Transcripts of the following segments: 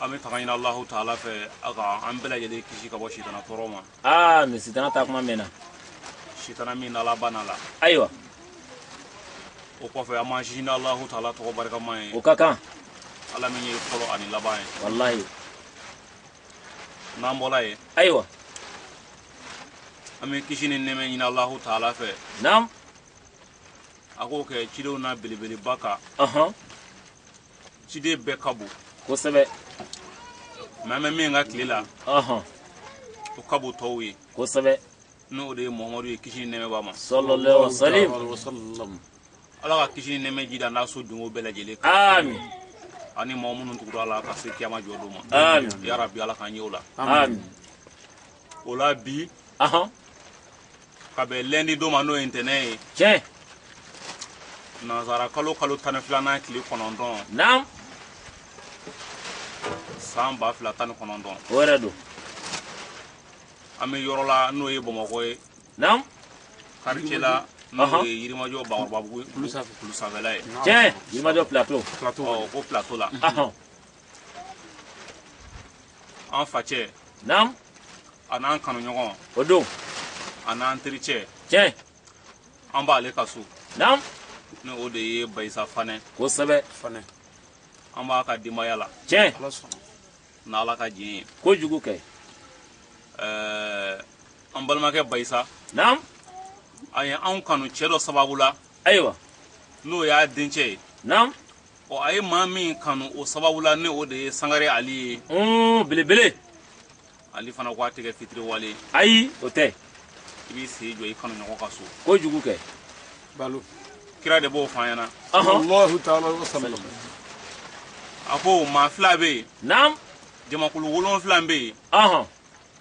an bɛ tanga ɲini alahu taala fɛ a ka an bɛɛ lajɛlen kisi ka bɔ sitana tɔɔrɔ ma amin sitana taa kuma mɛnna sitana min n'ala banna la ayiwa o kɔfɛ an b'an sinsin alahu taala tɔgɔ barikama ye o ka kan ala min ye fɔlɔ ani laban ye walahi n'an bɔra yen ayiwa an bɛ kisi ni nɛmɛ ɲini alahu taala fɛ naam a k'o kɛ cidenw na belebeleba kan ɔhɔn ciden bɛɛ ka bon kosɛbɛ mɛ an bɛ min ka tile la o ka bon tɔw ye kosɛbɛ n'o de ye muhamadu ye kisi ni nɛmɛ b'a ma salalahu alayihi wa salam ala ka kisi ni nɛmɛ jid'a n'a so donko bɛɛ lajɛlen kan amin ani mɔgɔ minnu tugur'a la ka se kiyama jɔ don ma amin yarabi ala k'an ye o la amin o la bi ka bɛn lɛndi don ma n'o ye ntɛnɛn ye tiɲɛ nanzara kalo kalo tan ni filanan tile kɔnɔntɔn naam san ba fila tan ni kɔnɔntɔn o yɛrɛ don an bɛ yɔrɔ la n'o ye bamakɔ ye naam quartier la n'o ye yirimajɔ bakɔrɔbabugu kulu sanfɛla ye tiɲɛ yirimajɔ plateau plateau ko plateau la an facɛ naamu an'an kanuɲɔgɔn o don an'an tericɛ tiɲɛ an b'ale ka so naamu ni o de ye bayisa fanɛ kosɛbɛ fanɛ an b'a ka denbaya la tiɲɛ n'ala ka jɛn ye kojugu kɛ ɛɛ an balimakɛ bayisa naamu a ye anw kanu cɛ dɔ sababu la ayiwa n'o y'a dencɛ ye naamu ɔ a ye maa min kanu o sababu la ni o de ye sangare ali ye ɔn belebele ali fana ko a tɛ kɛ fitiriwale ayi o tɛ i b'i sen jɔ i kanuɲɔgɔn ka so kojugu kɛ balo kira de b'o fɔ an ɲɛna sallallahu alayhi wa sallam a ko maa fila bɛ yen naam jamakulu wolonfila bɛ yen ɔhɔn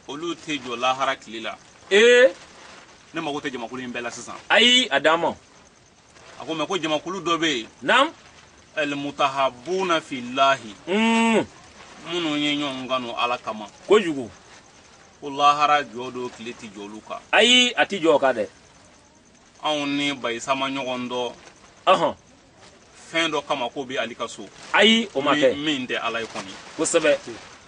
olu tɛ jɔ lahara tile la ee ne mago tɛ jamakulu in bɛɛ la sisan ayi a d'an ma a ko mɛ ko jamakulu dɔ bɛ yen naam almutahabuna fillahi mm. minnu ye ɲɔgɔn kanu ala kama kojugu ko lahara jɔ don tile tɛ jɔ olu kan ayi a tɛ jɔ o kan dɛ anw ni bayisa ma ɲɔgɔn dɔn ɔhɔn fɛn dɔ kama k'o bɛ ali ka so ayi o ma kɛ min tɛ ala ye kɔni kosɛbɛ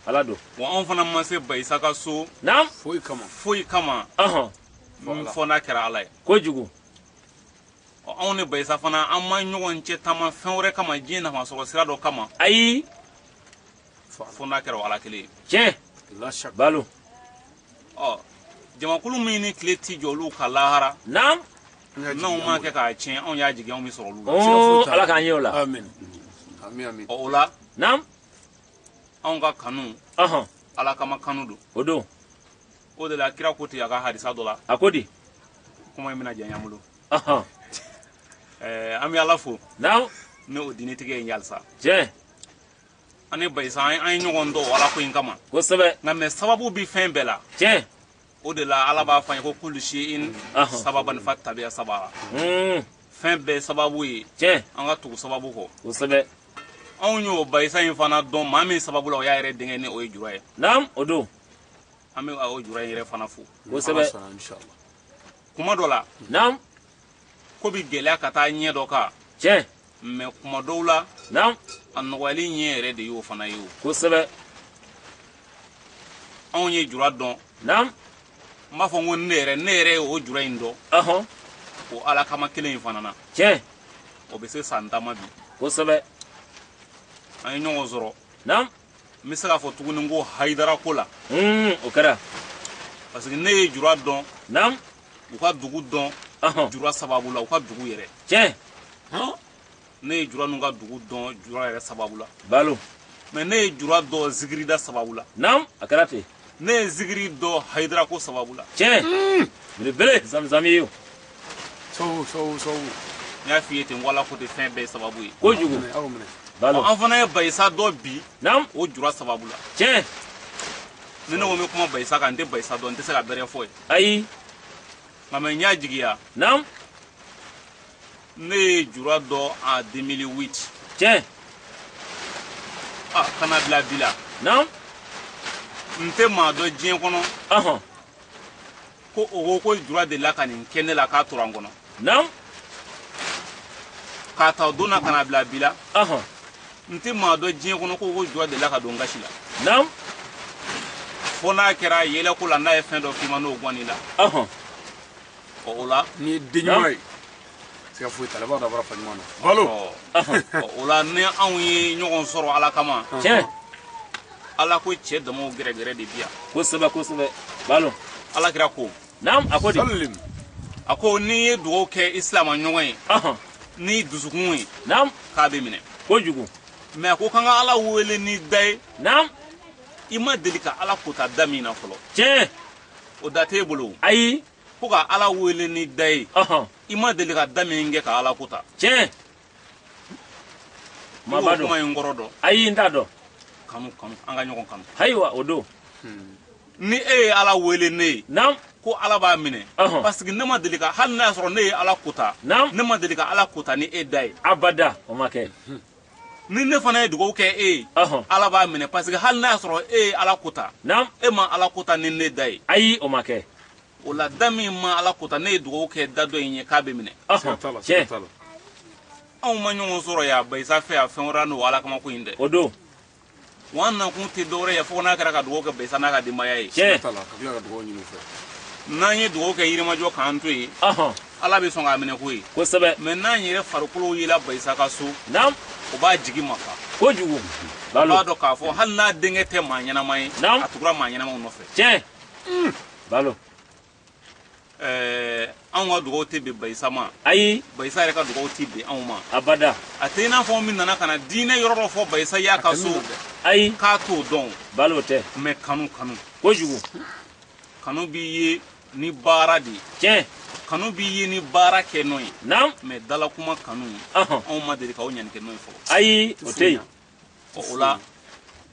ala don wa anw fana ma se bayisa ka so naam foyi kama foyi kama ɔhɔn fo n'a kɛra ala ye kojugu anw ni bayisa fana an ma ɲɔgɔn cɛ taama fɛn wɛrɛ kama diɲɛ nafa sɔrɔ sira dɔ kama ayi fo n'a kɛra o ala kelen ye tiɲɛ balo ɔ jamakulu min ni tile ti jɔ olu ka lahara naam n'anw ma kɛ k'a tiɲɛ anw y'a jigi anw bɛ sɔrɔ olu la ala k'an ye o la ɔ o la naam anw ka kanu ala kama kanu don o don o de la kira ko ten a ka hadisa dɔ la a ko di kuma in bɛna janya an bolo ɔhɔn ɛɛ an bɛ ala fo naamu ni o diinitigi ye halisa tiɲɛ an ni bayisa an an ye ɲɔgɔn dɔn o ala ko in kama kosɛbɛ nka mɛ sababu bi fɛn bɛɛ la tiɲɛ o de la ala b'a fɔ an ye ko kullu shay'in Ahɔ. sababan fattabi'a sababa Hmm, fɛn bɛɛ sababu ye tiɲɛ an ka tugu sababu kɔ kosɛbɛ anw y'o bayisa in fana dɔn maa min sababu la o y'a yɛrɛ denkɛ ni o ye jura ye naamu o don an bɛ o jura in yɛrɛ fana fo kosɛbɛ kuma dɔ la naam ko bi gɛlɛya ka taa ɲɛ dɔ kan tiɲɛ mɛ kuma dɔw la naam a nɔgɔyali ɲɛ yɛrɛ de y'o fana ye o kosɛbɛ anw ye jura dɔn naam n b'a fɔ n ko ne yɛrɛ ne yɛrɛ ye o jura in dɔn ɔhɔn o ala kama kelen in fana na tiɲɛ o bɛ se san tan ma bi kosɛbɛ an ye ɲɔgɔn sɔrɔ naam n bɛ se k'a fɔ tuguni ko hayidara ko la o kɛra parce que ne ye jura dɔn naamu u ka dugu dɔn jura sababu la u ka dugu yɛrɛ tiɲɛ ne ye jura n'u ka dugu dɔn jura yɛrɛ sababu la balo mɛ ne ye jura dɔn zikirida sababu la naamu a kɛra ten ne ye zigiri dɔn hayidara ko sababu la tiɲɛ belebele zamizami ye o sɔwu sɔwu sɔwu n y'a f'i ye ten ko ala ko ten fɛn bɛɛ sababu ye kojugu aw minɛ balo an fana ye bayisa dɔn bi naam o jura sababu la tiɲɛ ni ne ko n bɛ kuma bayisa kan n tɛ bayisa dɔn n tɛ se ka bɛrɛ fɔ ye ayi nka mɛ n y'a jigiya naam ne ye jura dɔn en 2008 tiɲɛ ah, ka na bila bi la naam n tɛ maa dɔn diɲɛ kɔnɔ ɔhɔn ko o ko ko jura delila ka nin kɛ ne la k'a tora n kɔnɔ naam k'a ta o don na ka na bila bi la ɔhɔn n tɛ maa dɔn diɲɛ kɔnɔ ko o ko jura delila ka don n gasi la naam fo n'a kɛra yɛlɛko la n'a ye fɛn dɔ k'i ma n'o gɔnn'i la ɔhɔn ɔ o la n'i ye den ɲuman ye siga foyi t'a la i b'a dɔn a bɔra fa ɲuman na balo ɔ o la ni anw ye ɲɔgɔn sɔrɔ ala kama tiɲɛ ala ko cɛ damaw gɛrɛgɛrɛ de bi yan kosɛbɛ kosɛbɛ balo ala kira ko naam a ko di sallim a ko n'i ye dugawu kɛ i silama ɲɔgɔn ye ɔhɔn n'i dusukun ye naam k'a bɛ minɛ kojugu mɛ a ko k'an ka ala wele ni da ye naam i ma deli ka ala kota da min na fɔlɔ tiɲɛ o da t'e bolo ayi ko ka ala wele ni da ye i ma deli ka da min kɛ ka ala kota tiɲɛ maba kuma in kɔrɔ dɔn ayi n t'a dɔn kanu kanu an ka ɲɔgɔn kanu ayiwa o don hmm. ni e ye ala wele ne ye naamu ko ala b'a minɛ parce que ne ma deli ka hali n'a y'a sɔrɔ ne ye ala kota ne ma deli ka ala kota ni e da ye abada o ma kɛ ni ne fana ye dugawu kɛ e ye ala b'a minɛ parce que hali n'a y'a sɔrɔ e ye ala kota e ma ala kota ni ne da ye ayi o ma kɛ o la da min ma ala kota ne ye dugawu kɛ da dɔ in ye k'a bɛ minɛ anw ma ɲɔgɔn sɔrɔ yan bayisa fɛ yan fɛn wɛrɛ n'o ala kama ko in dɛ o don wa an nakun tɛ dɔwɛrɛ ye fo n'a kɛra ka dugawu kɛ bayisa n'a ka denbaya ye n'an ye dugawu kɛ yirimajɔ k'an to yen ala bɛ sɔn k'a minɛ ko ye kosɛbɛ mais n'an yɛrɛ farikolo yela bayisa ka so o b'a jigi mafa kojugu b'a dɔn k'a fɔ hali n'a denkɛ tɛ maa ɲɛnama ye a tugura maa ɲɛnamaw nɔfɛ tiɲɛ balo ɛɛ anw ka dugawu tɛ bɛn bayisa ma ayi bayisa yɛrɛ ka dugawu tɛ bɛn anw ma abada a tɛ i n'a fɔ min nana ka na diinɛ yɔrɔ dɔ fɔ bayisa y'a ka so ayi k'a t'o dɔn balo o tɛ mais kanu kanu kojugu kanu b'i ye ni baara de ye tiɲɛ kanu b'i ye ni baara kɛ n'o ye naamu mais dalakuma kanu ɔhɔn anw ma deli k'aw ɲani kɛ n'o ye fɔlɔ ayi o tɛ yen ɔ o la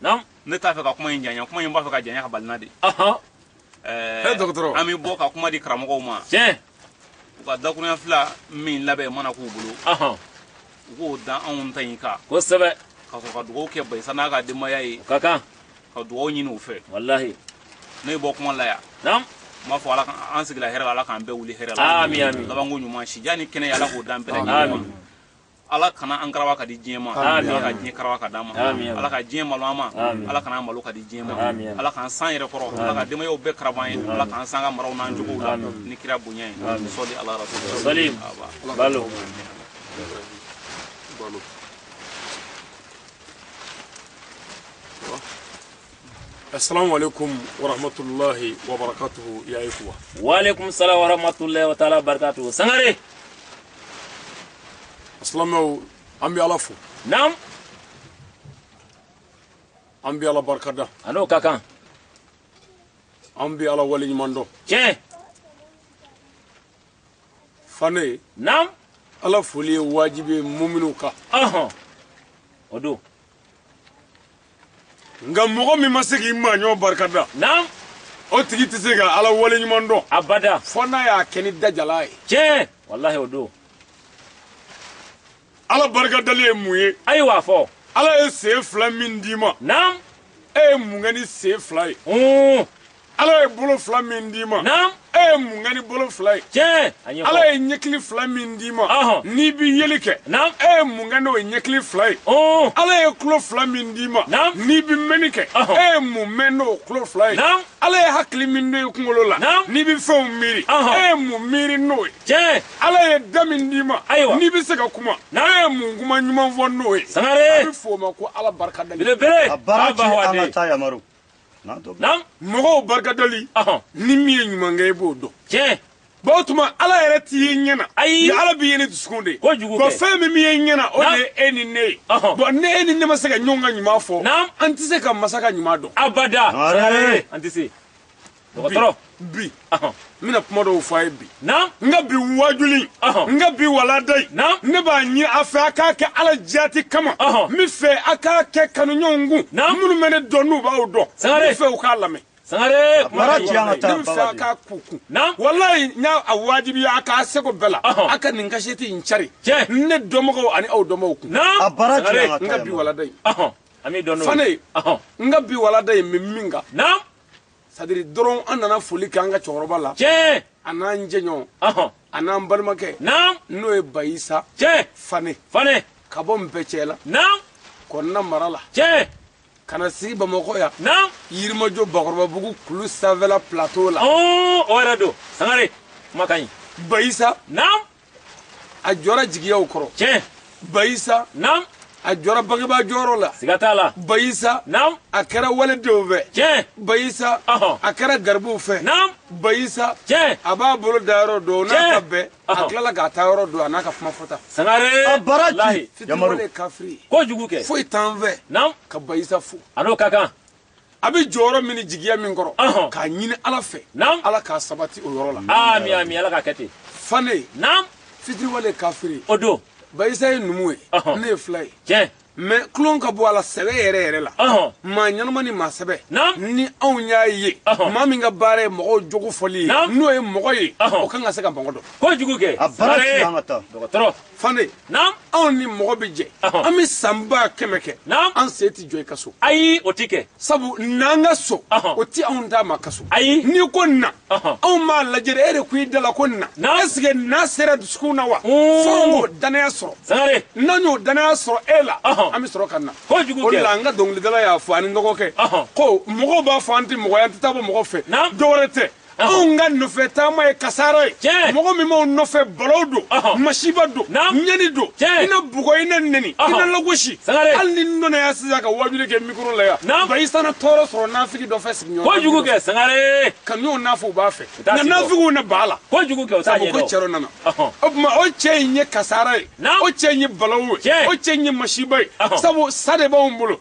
naamu ne t'a fɛ ka kuma in janya kuma in b'a fɛ ka janya ka bali n na de ɔhɔn ɛɛ dɔgɔtɔrɔ an bɛ bɔ ka kuma di karamɔgɔw ma tiɲɛ u ka dakurunya fila min labɛn mana k'u bolo ɔhɔn u k'o da anw ta in kan kosɛbɛ ka sɔrɔ ka dugawu kɛ bayisa n'a ka denbaya ye ka kan ka dugawu ɲini u fɛ walahi ne bɔ kuma la yan naamu n b'a fɔ ala ka an sigila hɛrɛ la ala k'an bɛɛ wuli hɛrɛ la Ami, ami. labanko ɲuman sijan ni kɛnɛya ala k'o d'an bɛɛ lajɛlen ma. Ami. ala kana an karawa ka di diɲɛ ma ala ka diɲɛ karawa ka d'an ma ala ka diɲɛ malo an ma ala kan'an malo ka di diɲɛ ma ala k'an s'an yɛrɛ kɔrɔ ala ka denbayaw bɛɛ karab'an ye ala k'an s'an ka maraw n'an jogow la ni kira bonya ye sɔli ala rasul salim balo balo assalamu alaikum warahmatullahi wabarakatuhu ya ikhwa wa alaikum salam warahmatullahi wa ta'ala barakatuhu sangare Aslamaw an bɛ ala fo naamu an bɛ ala barika da a n'o ka kan an bɛ ala wale ɲuman dɔn tiɲɛ fane naamu ala foli ye wajibi ye muminu kan ɔhɔn o don nka mɔgɔ min ma se k'i maaɲɔgɔn barika da naam o tigi tɛ se ka ala wale ɲuman dɔn abada fɔ n'a y'a kɛ ni dajala ye tiɲɛ walahi o don ala barika dali ye mun ye ayiwa fɔ ala ye sen fila min d'i ma naam e ye mun kɛ ni sen fila ye hun ala ye bolo fila min d'i ma e ye mun kɛ ni bolo fila ye ala ye ɲɛkili fila min d'i ma n'i bɛ yeli kɛ e ye mun kɛ n'o ye ɲɛkili fila ye ala ye tulo fila min d'i ma n'i bɛ mɛnni kɛ e ye mun mɛn n'o tulo fila ye ala ye hakili min don i kunkolo la n'i bɛ fɛnw miiri e ye mun miiri n'o ye ala ye da min d'i ma n'i bɛ se ka kuma e ye mun kuma ɲuman fɔ n'o ye a bɛ f'o ma ko ala barika da naamu mɔgɔw barikadali ni min ye ɲuman kɛ i b'o dɔn tiɲɛ bon o tuma ala yɛrɛ t'i ye ɲɛ na ayi ala b'i ye ni dusukun de ye kojugu kɛ fɛn min b'i ye ɲɛ na o de ye e ni ne ye bon ni e ni ne ma se ka ɲɔgɔn ka ɲuman fɔ an tɛ se ka masa ka ɲuman dɔn abada an tɛ se dɔgɔtɔrɔ bi n bɛna kuma dɔw fɔ a ye bi n ka bi wajuli n ka bi walanda in ne b'a ɲini a fɛ a k'a kɛ ala jati kama n b'a fɛ a k'a kɛ kanuɲɔgɔn kun minnu bɛ ne dɔn n'u b'aw dɔn n b'a fɛ u k'a lamɛn sangare baara ci an ka taa n b'a fɛ a k'a kun kun wallahi n y'a wajibi a ka seko bɛɛ la a ka nin kasɛti in cari ne dɔnbagaw ani aw dɔnbagaw kun a baara ci an ka taa n ka bi walanda in an bɛ dɔn n'o ye fane n ka bi walanda in bɛ min kan sadiri dɔrɔn an nana foli kɛ an ka cɛkɔrɔba la tiɲɛ a n'an jɛɲɔgɔn a n'an balimakɛ naam n'o ye bayisa tiɲɛ fane fane ka bɔ npɛcɛla naam kɔnina mara la tiɲɛ ka na sigi bamakɔ yan naam yirimajɔ bakɔrɔbabugu kulu sanfɛla plateau la o yɛrɛ don sangare kuma ka ɲi bayisa naam a jɔra jigiyaw kɔrɔ tiɲɛ bayisa naam a jɔra bangebaa jɔyɔrɔ la siga t'a la bayisa naam a kɛra waledenw fɛ tiɲɛ bayisa ɔhɔn a kɛra garibuw fɛ naam bayisa tiɲɛ a b'a bolo da yɔrɔ dɔn n'a Tiɲɛ. ka bɛɛ a Ɔhɔn. tilala k'a ta yɔrɔ dɔn a n'a ka kuma fɔta sangare A baara ci. lahi fitiriwale ye kafiri ye kojugu kɛ foyi t'an fɛ naam ka bayisa fo a n'o ka kan a bɛ jɔyɔrɔ min ni jigiya min kɔrɔ Ɔhɔn. k'a ɲini ala fɛ Naam. ala k'a sabati o yɔrɔ la ami ami ala k'a kɛ ten fane naam fitiriwale ye kafiri ye o don bayisa ye numu ye Ɔhɔn. ne ye fila ye tiɲɛ mɛ tulon ka bɔ a la sɛbɛ yɛrɛ yɛrɛ la Ɔhɔn. maa ɲɛnama ni maa sɛbɛ Naam. ni anw y'a ye Ɔhɔn. maa min ka baara ye mɔgɔw jogo fɔli ye Naam. n'o ye mɔgɔ ye Ɔhɔn. o kan ka se ka mɔgɔ dɔn kojugu kɛ A baara Sare. ci an ka taa. dɔgɔtɔrɔ fane naam anw ni mɔgɔ bɛ jɛ Ɔhɔn. an bɛ san ba kɛmɛ kɛ Naam. an sen tɛ jɔ i ka so ayi o ti kɛ sabu n'an ka so Ɔhɔn. o tɛ anw d'a ma ka so Ayi. n'i ko na Ɔhɔn. anw b'a lajɛ de e de ko i da la ko na Naam. ɛseke na sera dusukun na wa Mm. fo an k'o danaya sɔrɔ sangare n'an y'o danaya sɔrɔ e la Ɔhɔn. an bɛ sɔrɔ ka na Kojugu o de kɛ. la an ka dɔnkilidala y'a fɔ ani n dɔgɔkɛ Ɔhɔn. ko mɔgɔw b'a fɔ an tɛ mɔgɔ ye an tɛ taa bɔ mɔgɔ fɛ Naam. dɔwɛrɛ tɛ anw ka nɔfɛ taama ye kasara ye mɔgɔ min b'anw nɔfɛ balaw don masiba don ɲani don i na bugɔ i na neni i na lagosi hali ni dɔ na yan sisan ka wajuli kɛ mikoro la yan bayisa na tɔɔrɔ sɔrɔ nafigi dɔ fɛ sigiɲɔgɔn kojugu kɛ sangare ka n'o nafa u b'a fɛ nka nafigiw na b'a la kojugu kɛ o t'a ɲɛdɔn ko cɛ dɔ nana o tuma o cɛ in ye kasara ye o cɛ in ye balawu ye o cɛ in ye masiba ye sabu sa de b'anw bolo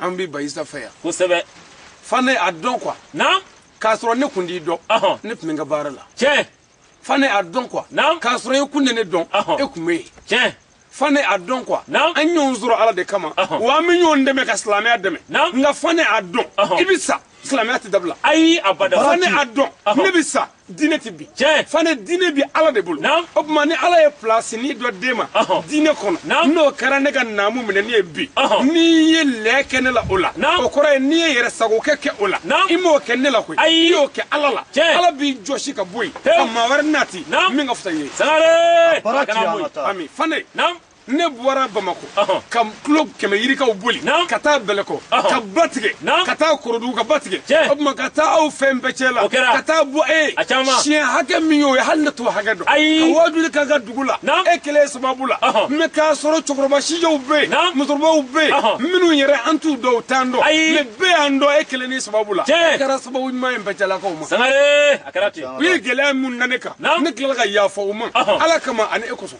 an bɛ bayisa fɛ yan kosɛbɛ fane a dɔn quoi naamu k'a sɔrɔ ne kun t'i dɔn ne tun bɛ n ka baara la tiɲɛ fane a dɔn quoi naamu k'a sɔrɔ e kun tɛ ne dɔn e kun bɛ yen tiɲɛ fane a dɔn quoi naamu an ɲɔgɔn sɔrɔ ala de kama wa an bɛ ɲɔgɔn dɛmɛ ka silamɛya dɛmɛ naamu nka fane a dɔn i bɛ sa silamɛya tɛ dabila ayi abada fane a dɔn ne bɛ sa diinɛ tɛ bin tiɲɛ fane diinɛ bi ala de bolo naamu o tuma ni ala ye pilasinin dɔ d'e ma diinɛ kɔnɔ naamu n'o kɛra ne ka naamu minɛ ne ye bi n'i ye lɛ kɛ ne la o la naamu o kɔrɔ ye n'i ye yɛrɛ sagokɛ kɛ o la naamu i m'o kɛ ne la koyi ayi i y'o kɛ ala la tiɲɛ ala b'i jɔsi ka bɔ yen ka maa wɛrɛ nati naamu min ka fisa i ye sangare baraji an ka taa ami fane naamu ne bɔra bamakɔ ka kilo kɛmɛ yirikaw boli ka taa bɛlɛkɔ ka ba tigɛ ka taa korodugu ka ba tigɛ o tuma ka taa aw fɛ bɛcɛla ka taa bɔ e siɲɛ hakɛ min y'o ye hali ne t'o hakɛ dɔn ka waajuli k'aw ka dugu la e kelen sababu la mais k'a sɔrɔ cɛkɔrɔba sijɛw bɛ yen musokɔrɔbaw bɛ yen minnu yɛrɛ an t'u dɔn u t'an dɔn mais bɛɛ y'an dɔn e kelen ni sababu la e kɛra sababu ɲuman ye bɛcɛlakaw ma u ye gɛlɛya min na ne kan ne tilala ka yafa u ma ala kama ani e kosɔn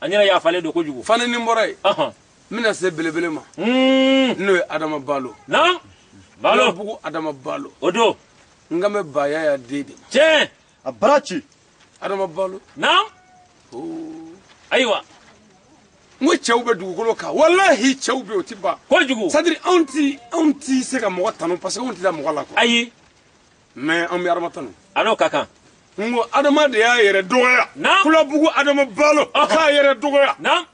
an yɛrɛ yafalen don kojugu fane ni n bɔra yen n bɛna se belebele ma hmm. n'o ye adama balo na balo bugu adama balo o don n ka mɛ ba yaya den de tiɲɛ a baraji adama balo na ayiwa n ko cɛw bɛ dugukolo kan walahi cɛw bɛ o tɛ ban kojugu c'est-à-dire anw ti anw ti se ka mɔgɔ tanu parce que anw tɛ da mɔgɔ la quoi ayi mais an bɛ adama tanu a n'o ka kan n ko adama de y'a yɛrɛ dɔgɔya Naamu. kulabugu adama balo Ɔhɔn. k'a yɛrɛ dɔgɔya naam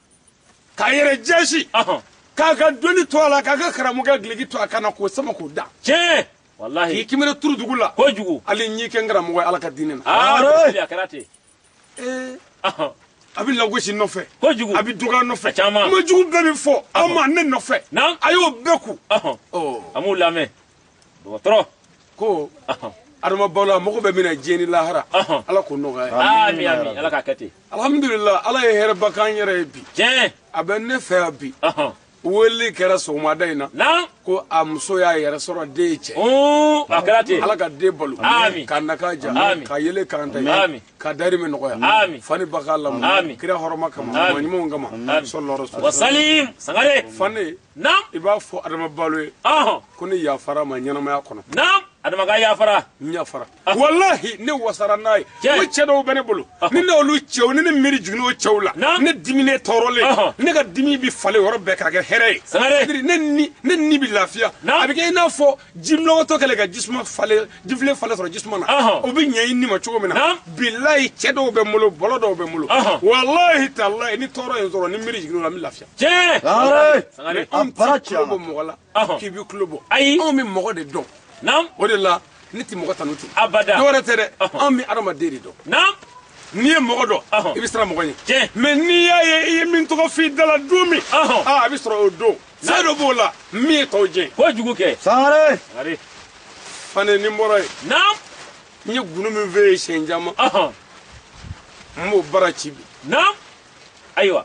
k'a yɛrɛ jaasi ɔhɔn k'a ka dɔnni to a la k'a ka karamɔgɔya gileki to a kan na k'o sama k'o da tiɲɛ k'i walahi kimere turu dugu la kojugu hali n'i kɛ n karamɔgɔ ye ala ka diinɛ na aa Are! a kɛra ten ee a bɛ lagosi nɔfɛ kojugu a bɛ dɔgɔya nɔfɛ caman kuma jugu bɛɛ bɛ fɔ a ma ne nɔfɛ naamu a y'o bɛɛ kun a m'u lamɛn dɔgɔtɔrɔ ko adama balo mago bɛ min na diɲɛ ni lahara ala k'o nɔgɔya ye ami ami ala k'a kɛ ten alhamdulilayi ala ye hɛrɛba k'an yɛrɛ ye bi tiɲɛ a bɛ ne fɛ yan bi wele kɛra sɔgɔmada in na ko a muso y'a yɛrɛ sɔrɔ den ye cɛ a kɛra ten ala ka den balo k'a nakan diya ka yele karanta ye k'a dahirimɛ nɔgɔya fa ni ba k'a lamɔ kira hɔrɔma kama mɔgɔ ɲumanw kama salalahu wa salim sangare fane i b'a fɔ adama balo ye ko ne yafar'a ma ɲɛnamaya kɔnɔ adama ka yafara n yafara walahi ne wasara n'a ye ko cɛ dɔw bɛ ne bolo ni ne olu cɛw ni ne miiri jiginna o cɛw la ne dimi ne tɔɔrɔlen ne ka dimi bɛ falen yɔrɔ bɛɛ k'a kɛ hɛrɛ ye ne ni ne ni bɛ lafiya a bɛ kɛ i n'a fɔ jinɔgɔtɔ kɛlen ka jisuma falen jifilen falen sɔrɔ jisuma na o bɛ ɲɛ i ni ma cogo min na bilayi cɛ dɔw bɛ n bolo bɔlɔ dɔw bɛ n bolo walahi talayi ni tɔɔrɔ ye sɔrɔ ni miiri jiginna o la n bɛ lafiya tiɲɛ an tɛ kulo bɔ mɔgɔ la k'i bɛ kulo bɔ ayi anw bɛ mɔgɔ de dɔn naamu o de la ne tɛ mɔgɔ tanu ten abada dɔwɛrɛ tɛ dɛ anw bɛ adamaden de dɔn naamu n'i ye mɔgɔ dɔn i bɛ siran mɔgɔ ɲɛ tiɲɛ mais n'i y'a ye i ye min tɔgɔ f'i da la don min aa a bɛ sɔrɔ o don fɛn dɔ b'o la min ye tɔw jɛ kojugu kɛ sangare sangare fane ni n bɔra yen naamu n ye gundo min f'e ye siɲɛ caman n b'o bara ci bi naamu ayiwa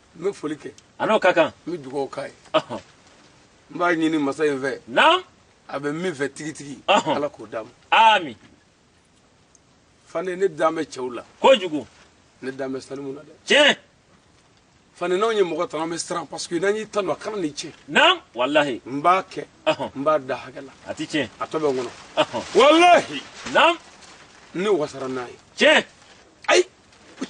n bɛ foli kɛ a n'o ka kan n bɛ dugawu k'a ye n b'a ɲini masa in fɛ naam a bɛ min fɛ tigitigi ala k'o d'a ma aami fane ne dan bɛ cɛw la kojugu ne dan bɛ salimu na dɛ tiɲɛ fane n'anw ye mɔgɔ tanu an bɛ siran parce que n'an y'i tanu a kan'i tiɲɛ naam walahi n b'a kɛ n b'a da hakɛ la a t'i tiɲɛ a tɔ bɛ n kɔnɔ walahi naam ne wasara n'a ye tiɲɛ ayi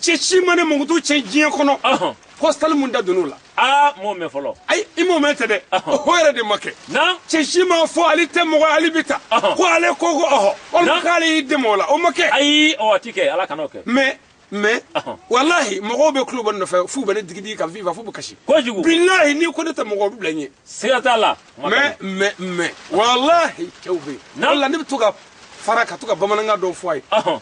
cɛ si ma ne mankutu tiɲɛ diɲɛ kɔnɔ Ɔhɔn. ko salimu da donn'o la aa m'o mɛn fɔlɔ ayi i m'o mɛn tɛ dɛ Ɔhɔn. o yɛrɛ de ma kɛ naam cɛ si ma fɔ ali tɛ mɔgɔ ali bɛ tan Ɔhɔn. ko ale ko ko ɔhɔ walima Na. k'ale y'i dɛmɛ o la o ma kɛ ayi ɔ a ti kɛ ala kan'o kɛ mais mais Ɔhɔn. walahi mɔgɔw bɛ kulo bɔ ne nɔfɛ f'u bɛ ne digidigi ka viva f'u bɛ kasi kojugu bilahi n'i ko ne tɛ mɔgɔ o bɛ bila n ɲɛ siga t'a la Ma mɛ kɛ. mais mais walahi cɛw bɛ yen Na. wala ne bɛ to ka fara ka to ka bamanankan dɔw fɔ a ye Ɔhɔn.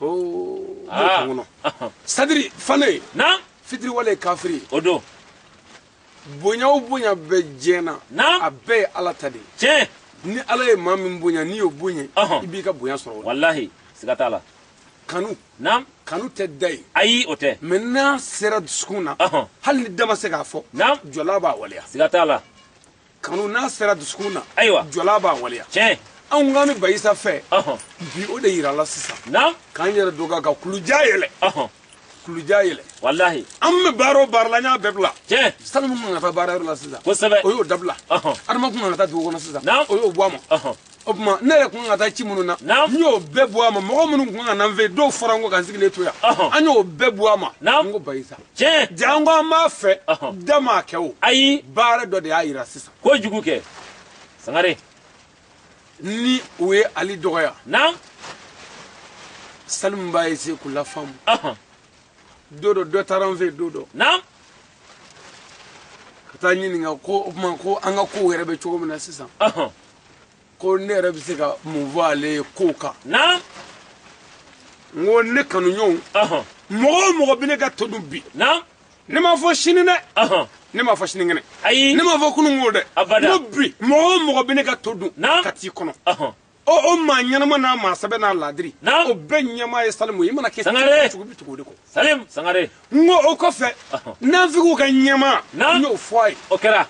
kɔnɔ sadiri fane fitiriwale ye kafiri ye o don bonya o bonya bɛ diɲɛ na a bɛɛ ye ala ta de ye ni ala ye maa min bonya n'i y'o bonya i b'i ka bonya sɔrɔ walahi siga t'a la kanu naam kanu tɛ da ye ayi o tɛ mais n'a sera dusukun na hali ni da ma se k'a fɔ naam jɔla b'a waleya siga t'a la kanu n'a sera dusukun na ayiwa jɔla b'a waleya tiɲɛ anw k'an bɛ bayisa fɛ bi o de yirala sisan k'an yɛrɛ dɔgɔya ka kulu jan yɛlɛn kulu jan yɛlɛn walahi an bɛ baara o baara la n y'a bɛɛ bila tiɲɛ salimu kun kan ka taa baara yɔrɔ la sisan kosɛbɛ o y'o dabila adama kun kan ka taa dugu kɔnɔ sisan o y'o bɔ a ma o tuma ne yɛrɛ kun ka taa ci minnu na n y'o bɛɛ bɔ a ma mɔgɔ minnu kun ka na n fɛ yen dɔw fɔra n kɔ ka n sigilen to yan an y'o bɛɛ bɔ a ma n ko bayisa tiɲɛ janko an b'a fɛ dama kɛ o ayi baara dɔ de y'a yira sisan kojugu kɛ sangare ni u ye ali dɔgɔya naamu salimu b'a ese k'u lafaamu don dɔ dɔ taara n fɛ yen don dɔ naamu ka taa ɲininka ko o tuma ko an ka kow yɛrɛ bɛ cogo min na sisan ko ne yɛrɛ bɛ se ka mun fɔ ale ye ko kan naamu n ko ne kanuɲɔgɔnw ɔhɔn mɔgɔ o mɔgɔ bɛ ne ka to dun bi naamu ne m'a fɔ sini dɛ ɔhɔn ne m'a fɔ sinikɛnɛ ayi ne m'a fɔ kunun ko dɛ Abada. n ko bi mɔgɔ o mɔgɔ bɛ ne ka to dun Naamu. ka t'i kɔnɔ ɔhɔn o o maa ɲɛnama n'a maa sɛbɛ n'a ladiri Naamu. o bɛɛ ɲɛmaa ye salimu ye i mana kɛ Sangare. cogo bɛ tugu o de kɔ salim sangare n ko o kɔfɛ Ɔhɔn. nafigiw ka ɲɛmaa Naamu. n y'o fɔ a ye o kɛra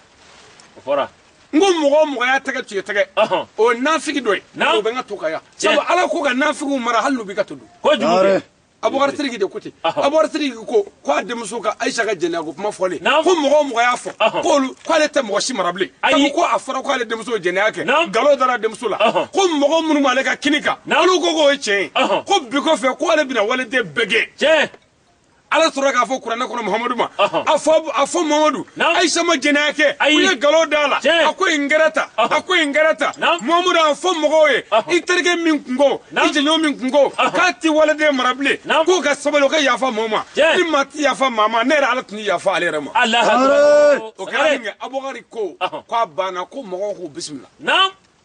o fɔra n ko mɔgɔ o mɔgɔ y'a tɛgɛ tiɲɛ tɛgɛ o ye nafigi dɔ ye o bɛ n ka to kan yan sabu ala ko ka nafigiw mara hali n'u b'i ka to dun abubakar sidiki de ko ten abubakar sidiki ko ko a denmuso ka ayisa ka jɛnɛya ko kuma fɔlen ko mɔgɔ o mɔgɔ y'a fɔ k'olu k'ale tɛ mɔgɔ si mara bilen sabu ko a fɔra k'ale denmuso jɛnɛya kɛ nkalon dara denmuso la ko mɔgɔ minnu b'ale ka kini kan olu ko k'o ye tiɲɛ ye ko bi kɔfɛ k'ale bɛna waliden bɛɛ gɛn ala sɔrɔla k'a fɔ kuranɛ kɔnɔ muhamadu ma a fɔ a fɔ muhamadu ayisa ma jɛnɛya kɛ u ye nkalon d'a la a ko in kɛra ta a ko in kɛra ta muhamadu a fɔ mɔgɔw ye i terikɛ min kun ko i jɛɲɔgɔn min kun ko k'a ti waliden mara bilen k'o ka sabali o ka yafa maa ma ni maa ti yafa maa ma ne yɛrɛ ala tɛna yafa ale yɛrɛ ma o kɛra minkɛ abubakari ko k'a banna ko mɔgɔw k'u bisimila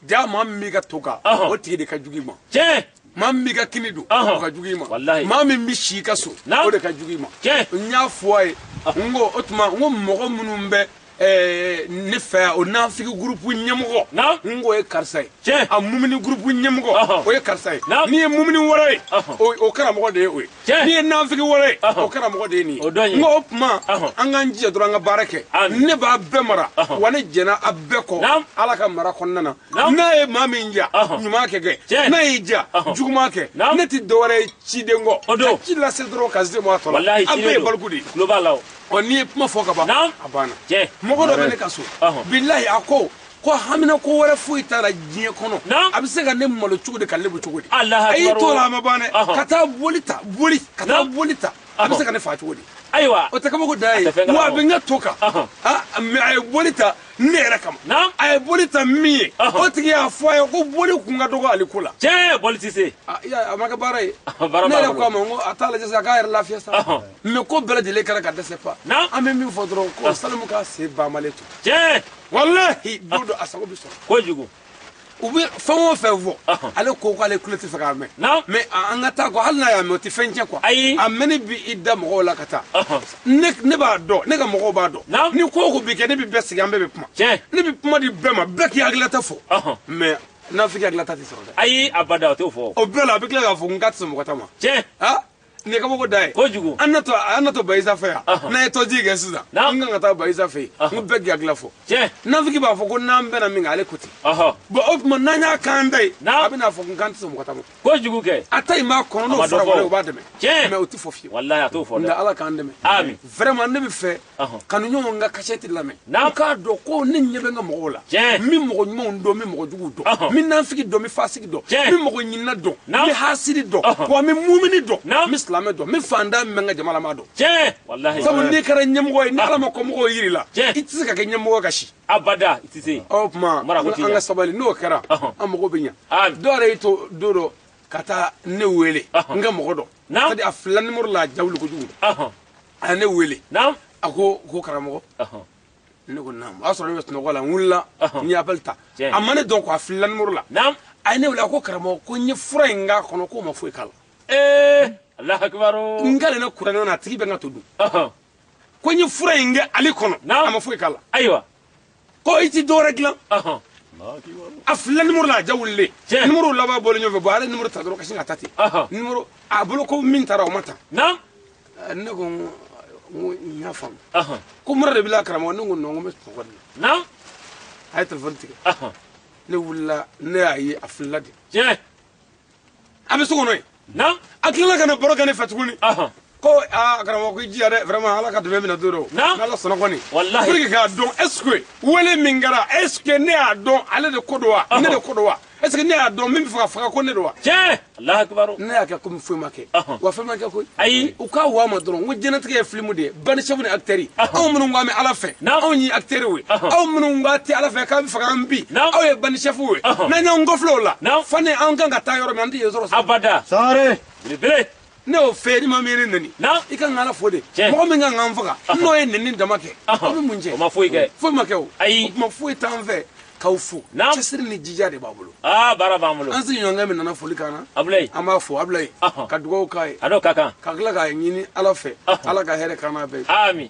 jaa maa min b'i ka to kan Ɔhɔn. o tigi de ka jugu i ma tiɲɛ maa min b'i ka kini dun Ɔhɔn. o ka jugu i ma Walahi. maa min bɛ si i ka so Naam. o de ka jugu i ma Tiɲɛ. n y'a fɔ a ye n ko o tuma n ko mɔgɔ minnu bɛ ɛɛ, ne fɛ yan o nafigi gurupu ɲɛmɔgɔ Naam. n ko o ye karisa ye Tiɲɛ. a mumini gurupu ɲɛmɔgɔ Ɔhɔn. o ye karisa ye Naam. n'i ye mumini wɛrɛ ye Ɔhɔn. o o karamɔgɔ de ye o ye n'i ye nafigi wɛrɛ ye o karamɔgɔ de ye nin ye n ko o tuma an k'an jija dɔrɔn an ka baara kɛ ne b'a bɛɛ mara wa ne jɛnna a bɛɛ kɔ ala ka mara kɔnɔna na n'a ye maa min ja ɲuman kɛ kɛ n'a y'i ja juguman kɛ ne tɛ dɔwɛrɛ ye ciden kɔ ka ci lase dɔrɔn ka se mɔgɔ tɔ la an bɛɛ ye baliku de ye ɔ n'i ye kuma fɔ ka ban a banna mɔgɔ dɔ bɛ ne ka so bilahi a ko ko haminanko wɛrɛ foyi t'a la diɲɛ kɔnɔ a bɛ se ka ne malo cogo di ka lebu cogo di a y'i to la a ma ban dɛ ka taa boli ta boli ka taa boli ta a bɛ se ka ne fa cogo di ayiwa o tɛ kabako da ye wa a bɛ n ka to kan mɛ a ye boli ta ne yɛrɛ kama a ye boli ta min ye o tigi y'a fɔ a ye ko boli kun ka dɔgɔ ale ko la tiɲɛ boli tɛ se a ma kɛ baara ye ne yɛrɛ ko a ma ko a t'a lajɛ sa k'a yɛrɛ lafiya sa mɛ ko bɛɛ lajɛlen kɛra ka dɛsɛ fa an bɛ min fɔ dɔrɔn ko salimu k'a sen banbalen to tiɲɛ walahi don dɔ a sago bɛ sɔrɔ kojugu u bɛ fɛn o fɛn fɔ ale ko k'ale kulo t'a fɛ k'a mɛn mɛ an ka taa kɔ hali n'a y'a mɛn o tɛ fɛn tiɲɛ kuwa ayi a mɛnni bi i da mɔgɔw la ka taa ne b'a dɔn ne ka mɔgɔw b'a dɔn ni ko o ko bi kɛ ne bɛ bɛɛ sigi an bɛɛ bɛ kuma ne bɛ kuma di bɛɛ ma bɛɛ k'i hakilinata fɔ mɛ nafigi hakilinata tɛ sɔrɔ dɛ ayi abada o t'o fɔ o bɛɛ la a bɛ tila k'a fɔ n k'a tɛ sɔn mɔgɔ ta ma tiɲɛ nin ye kabako da ye kojugu an na to an na to bayisa fɛ yan n'an ye tɔji kɛ sisan n kan ka taa bayisa fɛ yen n ko bɛɛ k'a hakilila fɔ nafiki b'a fɔ ko n'an bɛnna min kan ale ko ten bɔn o tuma n'an y'a kan da ye a bɛna fɔ ko kan tɛ sɔn mɔgɔ ta ma kojugu kɛ a ta in b'a kɔnɔ n'o fɔra wɛrɛ o b'a dɛmɛ mɛ o tɛ fɔ fiyewu nka ala k'an dɛmɛ vraiment ne bɛ fɛ kanuɲɔgɔnw ka kasɛti lamɛn u k'a dɔn ko ne ɲɛ bɛ n ka mɔgɔw la min mɔgɔ ɲuman don min mɔgɔ jugu don min nafigi don min fasigi don min mɔgɔ ɲinina don min hasidi don wa min mumini don min silamɛ don min fantan min bɛ n ka jama la n b'a dɔn sabu n'i kɛra ɲɛmɔgɔ ye n'ala ma kɔmɔgɔw yir'i la i tɛ se ka kɛ ɲɛmɔgɔ ka si abada i tɛ se o tuma an ka sabali n'o kɛra an mago bɛ ɲɛ ah. dɔ yɛrɛ y'i to don dɔ ka taa ne wele n ka mɔgɔ don c'est à dire a filila nimoro la a ja wuli kojugu a ye ne wele naamu a ko ko karamɔgɔ ɔhɔn ne ko naamu o y'a sɔrɔ ne bɛ sunɔgɔ la n wulila Ɔhɔn. n ye appel ta Tiɲɛ. a ma ne dɔn ko a filila nimoro la naamu a ye ne wele a ko karamɔgɔ ko n ye fura in k'a kɔnɔ k'o ma foyi k'a la ee alahu akibaru n kalilen kuranɛ na a tigi bɛ n ka to dun ɔhɔn ko n ye fura in kɛ ale kɔnɔ Naamu. a ma foyi k'a la ayiwa ko i ti dɔwɛrɛ dilan a filila nimoro la a ja wulilen nimoro laban bɔlen ɲɔgɔn fɛ bɔn ale nimoro ta dɔrɔn ka sin ka taa ten nimoro a bolo ko min taara o ma ta ne ko n ko n y'a faamu ko mura de b'i la karamɔgɔ ne ko nɔn ko n bɛ sunɔgɔ de la a ye telefɔni tigɛ ne wulila ne y'a ye a filila de a bɛ so kɔnɔ yen na a tilala ka na baro kɛ ne fɛ tuguni ko aa karamɔgɔ ko i jija dɛ vraiment ala ka dɛmɛ minɛ don dɔ n'ala sɔnna kɔni pour que k'a dɔn est ce que wele min kɛra est ce que ne y'a dɔn ale de ko don wa ne de ko don wa est ce que ne y'a dɔn min bɛ fɛ ka faga ko ne don wa tiɲɛ alahu akibaru ne y'a kɛ komi foyi ma kɛ wa fɛn ma kɛ koyi ayi u k'a wa ma dɔrɔn n ko diɲɛlatigɛ ye filimu de ye bandi chef ni acteurs anw minnu ko an bɛ ala fɛ anw ye acteurs ye aw minnu ko a ti ala fɛ k'a bɛ fɛ k'an bin aw ye bandi chef ye n'an y'an kɔfilɛ o la fane an kan ka taa yɔrɔ min an tɛ yen sɔrɔ abada sare belebele ne y'o fɔ ni maa min y'i neni i kan k'ala fo de mɔgɔ min kan k'an faga n'o ye neni dama kɛ aw bɛ mun cɛn o ma foyi kɛ foyi ma kɛ o ayi o tuma foyi t'an fɛ k'aw fo cɛsiri ni jija de b'an bolo aa baara b'an bolo an sigiɲɔgɔnkɛ min nana foli k'an na abulayi an b'a fo abulayi ka dugawu k'a ye a n'o ka kan ka tila k'a ɲini ala fɛ ala ka hɛrɛ k'an n'a bɛɛ ye amin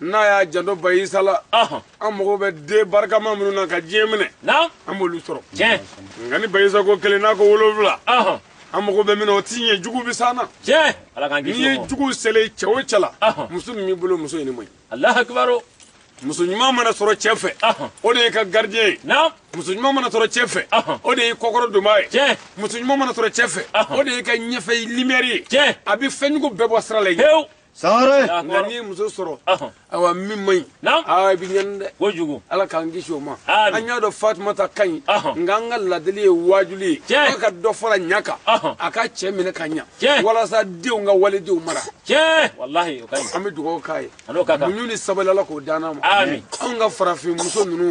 n'a y'a janto bayisa la an mago bɛ den barikama minnu na ka diɲɛ minɛ an b'olu sɔrɔ nka ni bayisa ko kelen n'a ko wolonwula an mago bɛ min o ti ɲɛ jugu bɛ s'an na n'i ye jugu selen cɛ o cɛ la muso min b'i bolo muso in man ɲi muso ɲuman mana sɔrɔ cɛ fɛ o de y'i ka gardien ye muso ɲuman mana sɔrɔ cɛ fɛ o de y'i kɔkɔrɔdonbaa ye muso ɲuman mana sɔrɔ cɛ fɛ o de y'i ka ɲɛfɛ lumière ye a bɛ fɛnjugu bɛɛ bɔ sira la sangare nka n'i ye muso sɔrɔ awa min man ɲi aa i bɛ ɲani dɛ kojugu ala k'an kisi o ma an y'a dɔn fatumata ka ɲi nka an ka ladili ye waajuli ye ala ka dɔ fara ɲa kan a ka cɛ minɛ ka ɲa walasa denw ka waledenw mara walahi o ka ɲi an bɛ dugawu k'a ye muɲu ni sabali ala k'o d'an ma anw ka farafin muso ninnu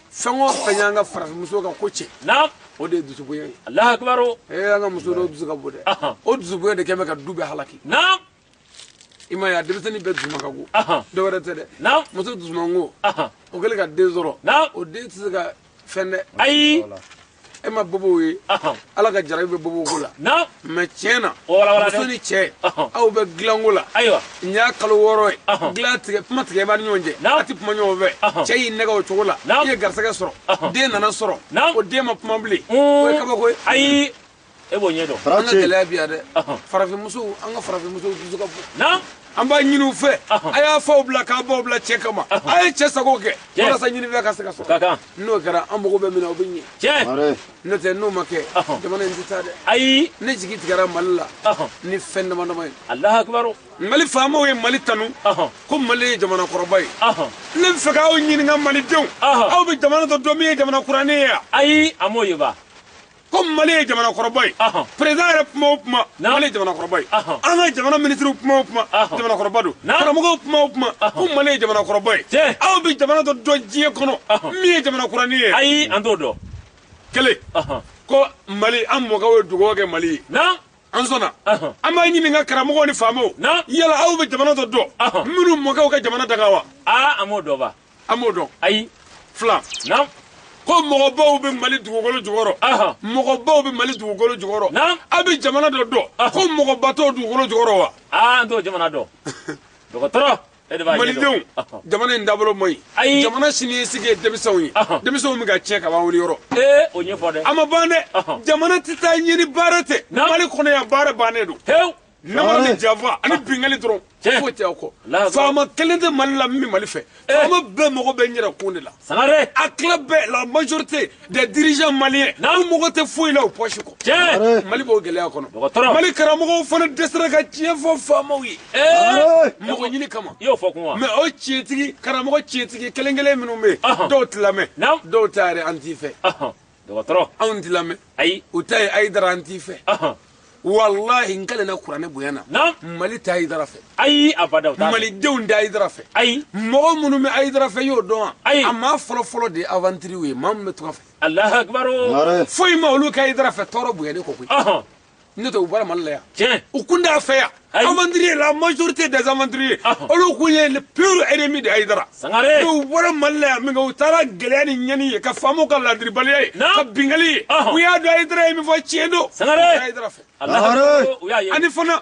fɛn o fɛn y'an ka farafinmuso ka ko cɛn na o de ye dusubonya ye alahu akibaru ee an ka muso dɔw dusu ka bon dɛ Ahan. o dusubonya de kɛ bɛ ka du bɛɛ halaki na i m'a ye a denmisɛnnin bɛɛ dusuma ka go Ahan. dɔ wɛrɛ tɛ dɛ na muso dusumango ahan o kɛlen ka den sɔrɔ na o den tɛ se ka fɛn dɛ ayi e ma bobow ye ala ka jarabi bɛ bobow ko la mɛ tiɲɛ na muso ni cɛ aw bɛ dilanko la nin y'a kalo wɔɔrɔ ye dilan tigɛ kuma tigɛ b'a ni ɲɔgɔn cɛ a tɛ kuma ɲɔgɔn fɛ cɛ y'i nɛgɛn o cogo la i ye garisɛgɛ sɔrɔ den nana sɔrɔ o den ma kuma bilen o ye kabako ye ayi e b'o ɲɛ dɔn an ka gɛlɛya bi yan dɛ farafinmusow an ka farafinmusow dusu ka bon an b'a ɲini u fɛ a y'a faw bila k'a baw bila cɛ kama a ye cɛ sago kɛ walasa ɲinifɛn ka se ka sɔrɔ n'o kɛra an mago bɛ min na o bɛ ɲɛ tiɲɛ n'o tɛ n'o ma kɛ jamana in tɛ taa dɛ ayi ne jigi tigɛra mali la ni fɛn dama dama ye alahu akibaru mali faamaw ye mali tanu ko mali ye jamana kɔrɔba ye ne bɛ fɛ k'aw ɲininka malidenw aw bɛ jamana dɔ dɔn min ye jamana kuranin ye wa ayi an m'o ye ba ko mali ye jamanakɔrɔba ye perezidan yɛrɛ kuma o kuma mali ye jamanakɔrɔba ye an ka jamana minisiriw kuma o kuma jamanakɔrɔba don karamɔgɔw kuma o kuma ko mali ye jamanakɔrɔba ye aw bɛ jamana dɔ dɔn diɲɛ kɔnɔ min ye jamanakuranin ye ayi an t'o dɔn kelen ko mali an mɔkɛw ye dugawu kɛ mali ye an sɔnna an b'a ɲininka karamɔgɔw ni faamaw yala aw bɛ jamana dɔ dɔn minnu mɔkɛw ka jamana danga wa aa an m'o dɔn ba an m'o dɔn ayi fila naamu ko mɔgɔbaw bɛ mali dugukolo jukɔrɔ mɔgɔbaw bɛ mali dugukolo jukɔrɔ aw bɛ jamana dɔ dɔn ko mɔgɔba t'o dugukolo jukɔrɔ wa aa an t'o jamana dɔn dɔgɔtɔrɔ e malidenw jamana in dabolo man ɲi ayi jamana siniɲɛsigi ye denmisɛnw ye denmisɛnw bɛ ka tiɲɛ ka ban wuli yɔrɔ ee o ɲɛfɔ dɛ a ma ban dɛ jamana tɛ taa ɲɛ ni baara tɛ mali kɔnɔ yan baara bannen don namara ni janfa ani binkali dɔrɔn foyi tɛ aw kɔ faama kelen tɛ mali la min bɛ mali fɛ eh. faama bɛɛ mago bɛ n yɛrɛ kun de la a tila bɛɛ la majorité des dirigeants maliens u mago tɛ foyi la u poche kɔ mali b'o gɛlɛya kɔnɔ mali karamɔgɔw fana dɛsɛra ka tiɲɛ fɔ faamaw ye eh. mago ɲini kama mɛ o tiɲɛtigi karamɔgɔ tiɲɛtigi kelen kelen minnu bɛ yen dɔw tɛ lamɛn dɔw ta yɛrɛ an t'i fɛ dɔgɔtɔrɔ anw ti lamɛn ayi u ta ye ayidara an t'i fɛ walahi n kalen na kuranɛ bonya na mali tɛ ayidara fɛ ayi abada u t'a malidenw tɛ ayidara fɛ ayi mɔgɔ minnu bɛ ayidara fɛ y'o dɔn wa ayi a maa fɔlɔfɔlɔ de ye aventuriers ye maa min bɛ tunga fɛ alahu akibaru foyi ma olu kɛ ayidara fɛ tɔɔrɔ bonyani kɔ koyi n'o tɛ u bɔra mali la yan tiɲɛ u kun t'a fɛ yan aventurier la majorité des aventuriers olu kun ye le pire ennemi de ayidara sangare u bɔra mali la yan min kɛ u taara gɛlɛya ni ɲɛni ye ka faamaw ka ladiribaliya ye ka binkanni ye u y'a dɔn ayidara ye min fɔ tiɲɛ don sangare ayidara fɛ ani fana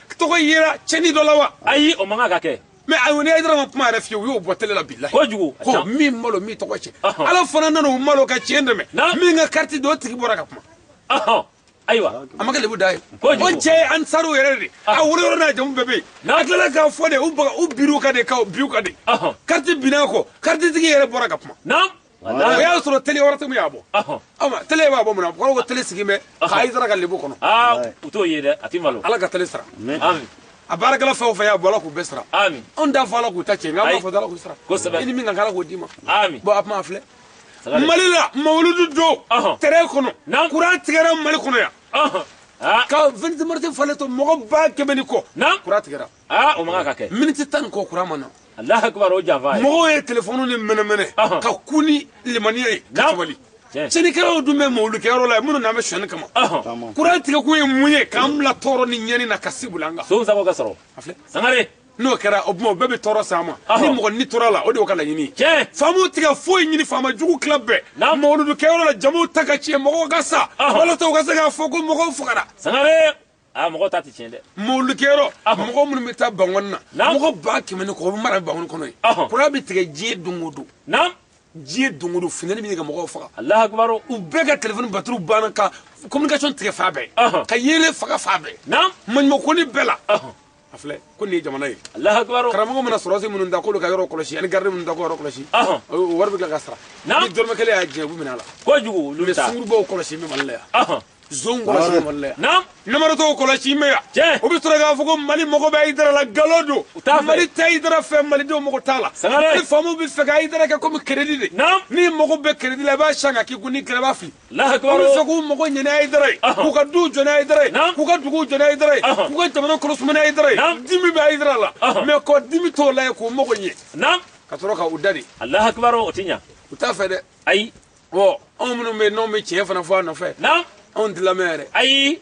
tɔgɔ yera cɛni dɔ la wa ayi o man kan ka kɛ mais a y'o ni ayidara ma kuma yɛrɛ fiyewu u y'o bɔ tele la bilahi kojugu ko min malo min tɔgɔ cɛ ala fana nana o malo ka tiɲɛ dɛmɛ min ka kariti don o tigi bɔra ka kuma ayiwa a ma kɛ lebu da ye o cɛ ye ansariw yɛrɛ de a wolo yɔrɔ n'a jamu bɛɛ bɛ yen a tilala k'a fɔ de u baga u biriw ka de ka biw ka de kariti binna kɔ karititigi yɛrɛ bɔra ka kuma o y'a sɔrɔ tele wɛrɛ tɛ min y'a bɔ tele b'a bɔ mun na kɔrɔ ko tele sigi bɛ ka ayidara ka lebu kɔnɔ u t'o ye dɛ a tɛ malo ala ka tele sara a baarakɛla fɛn o fɛn y'a bɔ ala k'u bɛɛ sara anw t'a fɔ ala k'u ta cɛ nka an b'a fɔ ala k'u sara kosɛbɛ i ni min ka kan ala k'o d'i ma bon a kuma a filɛ mali la mawuludu don terrain kɔnɔ kuran tigɛra mali kɔnɔ yan ka vingt-six mars falen to mɔgɔ ba kɛmɛ ni kɔ kuran tigɛra aa o man kan ka kɛ miniti tan ni kɔ kuran ma na alahu akibaru o janfa ye mɔgɔw ye telefɔniw ni mɛnɛmɛnɛ Ɔhɔn. ka kun ni limaniya ye ka Naam. sabali Tiɲɛ. cɛnnikɛlaw dun bɛ mawulukɛyɔrɔ la minnu nanen bɛ sɔnni kama Ɔhɔn. kuran tigɛkun ye mun ye k'an bila tɔɔrɔ ni ɲɛni na ka sibula an kan sonw sago ka sɔrɔ a filɛ sangare n'o kɛra o tuma o bɛɛ bɛ tɔɔrɔ s'a ma Ɔhɔn. ni mɔgɔ ni tora a la o de y'o ka laɲini ye tiɲɛ faamaw tɛ ka foyi ɲini faama jugu tila bɛɛ Naam. mawuludukɛyɔrɔ la jama ta ka tiɲɛ mɔgɔw ka sa Ɔhɔn. walasa u ka se k'a fɔ ko mɔgɔw fagara sangare aa mɔgɔ ta tɛ tiɲɛ dɛ mawulukɛyɔrɔ mɔgɔ minnu bɛ taa bangɔni na Naamu. mɔgɔ ba kɛmɛ ni kɔ o bɛ mara bangɔni kɔnɔ yen Ɔhɔn. kuran bɛ tigɛ diɲɛ don o don naam diɲɛ don o don funtɛni bɛ ɲini ka mɔgɔw faga alahu akibaru u bɛɛ ka telefɔni batiriw banna ka communication tigɛ fan bɛɛ Ɔhɔn. ka yeelen faga fan bɛɛ naam maɲumako ni bɛɛ la Ɔhɔn. a filɛ ko nin ye jamana ye karamɔgɔ mana sɔrɔdasi minnu da k'olu ka yɔrɔ kɔlɔsi ani garidi minnu da k'o yɔrɔ kɔlɔsi o wari bɛ tila ka sara ni dɔrɔmɛ kelen y'a jɛ u bɛ minɛ a la kojugu olu bɛ taa sungurunbaw kɔlɔsi bɛ mali la yan zonw kɔlɔsi bɛ mali la yan namaratɔw kɔlɔsi bɛ yan o bɛ sɔrɔ k'a fɔ ko mali mago bɛ ayidara la nkalon don mali tɛ ayidara fɛ malidenw mago t'a la ni faamaw bɛ fɛ ka ayidara kɛ komi keredi de n'i mago bɛ keredi la i b'a san ka k'i kun n'i kɛlɛ i b'a fili sɔn k'u mago ɲɛ ni ayidara ye k'u ka duw jɔ ni ayidara ye k'u ka duguw jɔ ni ayidara ye k'u ka jamana kɔnɔ suma ni ayidara ye dimi bɛ ayidara la mais ko dimi t'o la ye k'u mago ɲɛ ka sɔrɔ ka u da de o tɛ ɲa u t'a fɛ dɛ ayi anw minnu bɛ yen n'anw bɛ tiɲɛ fana fɔ a nɔfɛ anw tɛ lamɛn yɛrɛ ayi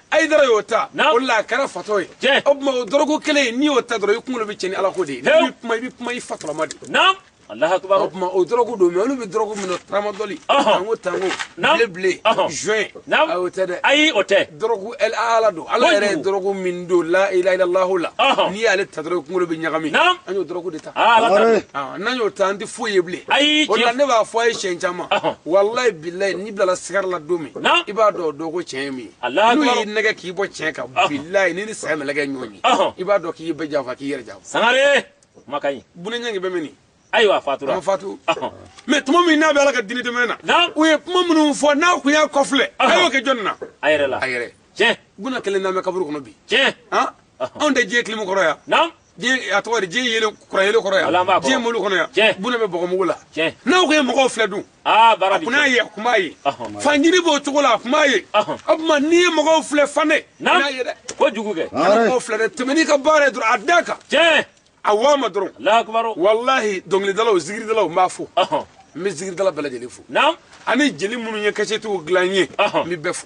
ayidara y'o ta o la a kɛra fatɔ ye o tuma o dɔrɔgu kelen n'i y'o ta dɔrɔn i kunkolo bɛ cɛn ni ala ko de ye n'i kuma i bɛ kuma i fatɔlama de o tuma o dɔrɔgu don mais olu bɛ dɔrɔgu min na taramadɔli tanko tanko bleu bleu joint ayi o tɛ dɛ ayi o tɛ dɔrɔgu ala don ala yɛrɛ ye dɔrɔgu min don la ilaha ilalahu la n'i y'ale ta dɔrɔn i kunkolo bɛ ɲagami an y'o dɔrɔgu de ta n'an y'o ta an tɛ foyi ye bilen ayi o la ne b'a fɔ aw ye siɲɛ caman walayi bilayi n'i bilala sakara la don min i b'a dɔn o don ko tiɲɛ ye min ye Alahu n'u akibaru. y'i nɛgɛ k'i bɔ tiɲɛ kan Ɔhɔn. bilayi n'i ni saya mɛlɛkɛ ɲɔgɔn ye Ɔhɔn. i b'a dɔn k'i ye bɛɛ janfa k'i yɛrɛ janfa sangare kuma ka ɲi buna nyange bɛ mini ayiwa a fatura ma fatu Ɔhɔn. mais tuma min n'a bɛ ala ka diinɛ dɛmɛ na Naam. u ye kuma minnu fɔ n'a kun y'a kɔfilɛ a Ɔhɔn. y'o kɛ jɔnni na a yɛrɛ la a yɛrɛ tiɲɛ buna kelenna bɛ kaburu kɔnɔ bi tiɲɛ han Ɔhɔn. anw tɛ diɲɛ kilimu kɔrɔ yan naamu a tɔgɔ di diɲɛ yelen kuran yelen kɔrɔ yan diɲɛ mobili kɔnɔ yan buna bɛ bɔgɔmugu la n'a kun ye mɔgɔw filɛ dun a kun n'a ye a kun b'a ye fanjiri b'o cogo la a kun b'a ye o tuma n'i ye mɔgɔw filɛ fana n'a ye dɛ kojugu kana mɔgɔw filɛ dɛ tɛmɛ n'i ka baara ye dɔrɔn a da kan a waa ma dɔrɔn walahi dɔnkilidalaw zikiridalaw n b'a fo n bɛ zikiridala bɛɛ lajɛlen fo ani jeli minnu ye kasɛtiw dilan n ye n bɛ bɛɛ fo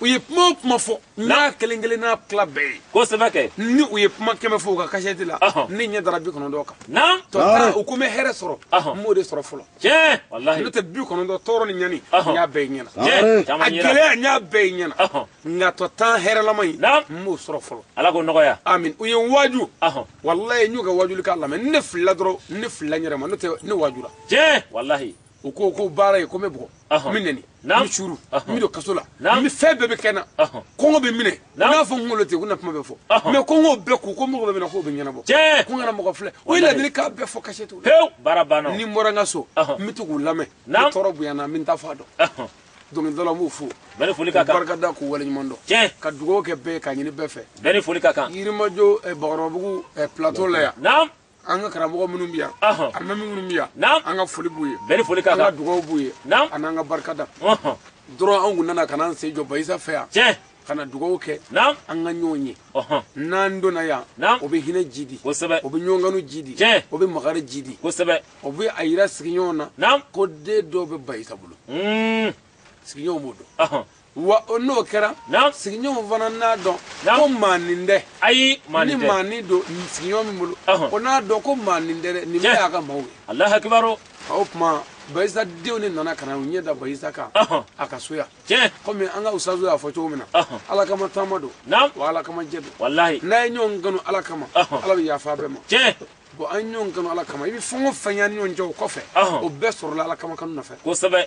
u ye kuma o kuma fɔ n'a kelen kelenna tila bɛɛ ye kosɛbɛ kɛ ni u ye kuma kɛmɛ fɔ u ka kasɛti la ne ɲɛ dara bi kɔnɔntɔn kan naamu tɔ u ko n bɛ hɛrɛ sɔrɔ n m'o de sɔrɔ fɔlɔ tiɲɛ walahi n'o tɛ bi kɔnɔntɔn tɔɔrɔ ni ɲani n y'a bɛɛ ɲɛna a gɛlɛya n y'a bɛɛ ɲɛna nka tɔ tan hɛrɛlama in n m'o sɔrɔ fɔlɔ ala k'o nɔgɔya amin u ye n waaju walahi n y'u ka waajuli k'a lamɛn ne filila dɔrɔn ne filila n yɛrɛ ma n'o tɛ ne waajura tiɲɛ walahi u ko ko baara ye ko n bɛ bugɔ Ɔhɔn. n bɛ nɛni n Naam. bɛ suuru n Ɔhɔn. bɛ don kaso la Naam. n bɛ fɛn bɛɛ bɛ kɛ n na Ɔhɔn. kɔngɔ bɛ n minɛ u Naam. n'a fɔ n kunkolo tɛ ko n na kuma bɛ fɔ Ɔhɔn. mais ko n k'o bɛɛ kun ko mɔgɔ bɛ minɛ k'o bɛ ɲɛnabɔ Tiɲɛ. ko n kana mɔgɔ filɛ u ye Walahi. ladilikan bɛɛ fɔ kasɛtiw la pewu baara banna o. ni n bɔra n ka so Ɔhɔn. n bɛ to k'u lamɛn Naam. ni tɔɔrɔ bonyana n bɛ n ta fɔ a dɔn Ɔhɔn. dɔnkilidalaw n b'u fo bɛɛ ni foli ka kan barika da k'u waleɲuman dɔn tiɲɛ ka dugawu kɛ bɛɛ ye k'a ɲini bɛɛ fɛ bɛɛ ni foli ka kan yirimajɔ eh, bakɔrɔbabugu eh, plateau la yan naam an ka karamɔgɔ minnu bɛ yan alimami minnu bɛ yan an ka foli b'u ye bɛɛ ni foli ka kan an ka dugawu b'u ye a n'an ka barikada dɔrɔn anw kun nana ka n'an sen jɔ bayisa fɛ yan tiɲɛ ka na dugawu kɛ an ka ɲɔgɔn ye n'an donna yan o bɛ hinɛ jiidi kosɛbɛ o bɛ ɲɔgɔnkanu jiidi o bɛ makari jiidi kosɛbɛ o bɛ a yira sigiɲɔgɔn na ko den dɔw bɛ bayisa bolo sigiɲɔgɔn b'o dɔn wa o n'o kɛra naam sigiɲɔgɔnw fana n'a dɔn Naam. ko maa nin tɛ ayi maa ni nin tɛ maa nin don nin sigiɲɔgɔn min bolo Ɔhɔn. o n'a dɔn ko maa nin tɛ dɛ nin Tiɲɛ. bɛɛ y'a ka maaw ye alahu akibaru o tuma bayisa denw de nana ka na u ɲɛ da bayisa kan Ɔhɔn. a ka so yan tiɲɛ kɔmi an ka usazu y'a fɔ cogo min na Ɔhɔn. ala kama taama don naam wa ala kama jɛ don walahi n'an ye ɲɔgɔn kanu ala kama Ɔhɔn. ala bɛ yafa an bɛɛ ma tiɲɛ bon an ye ɲɔgɔn kanu ala kama i bɛ fɛn o fɛn y'an ni ɲɔgɔn cɛ o kɔfɛ Ɔhɔn. o bɛɛ sɔrɔla ala kama kanu nɔfɛ kosɛbɛ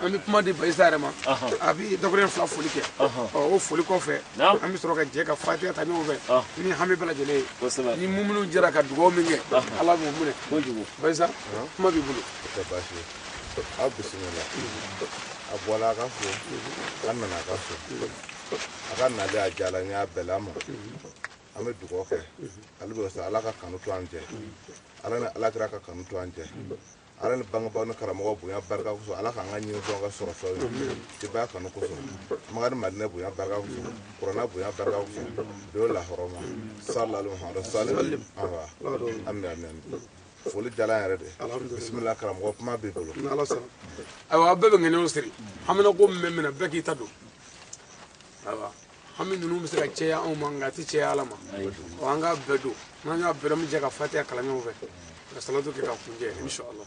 an bɛ kuma di bayisa yɛrɛ ma a bɛ dɔgɔkɛ fila foli kɛ o foli kɔfɛ an bɛ sɔrɔ ka jɛ ka fatiya ta ɲɔgɔn fɛ ni hami bɛɛ lajɛlen ye ni muminiw jɛra ka dugawu min kɛ ala b'o minɛ bayisa kuma b'i bolo aw bisimila a bɔla a ka so a nana a ka so a ka nali a diyala n y'a bɛla ma an bɛ dugawu kɛ ale bɛ ala ka kanu to an cɛ ala ni ala kira ka kanu to an cɛ ala ni bangebaaw ni karamɔgɔ bonya barika kosɔn ala k'an ka ɲini dɔn ka sɔrɔ fɛnw ye tebaya kanu kosɔn makan ni madinɛ bonya barika kosɔn kurana bonya barika kosɔn do lahɔrɔma salali muhamadu sali awa amin amin amin foli diyala an yɛrɛ de bisimila karamɔgɔ kuma b'i bolo ayiwa aw bɛɛ bɛ ŋaniya siri haminanko min bɛ min na bɛɛ k'i ta don ayiwa hami ninnu bɛ se ka cɛya anw ma nka a tɛ cɛya ala ma ɔ an k'a bɛɛ don n'an y'a bɛɛ don an bɛ jɛ ka fatiya kalan ɲɔgɔn fɛ ka salatu kɛ k'a kuncɛ inshallah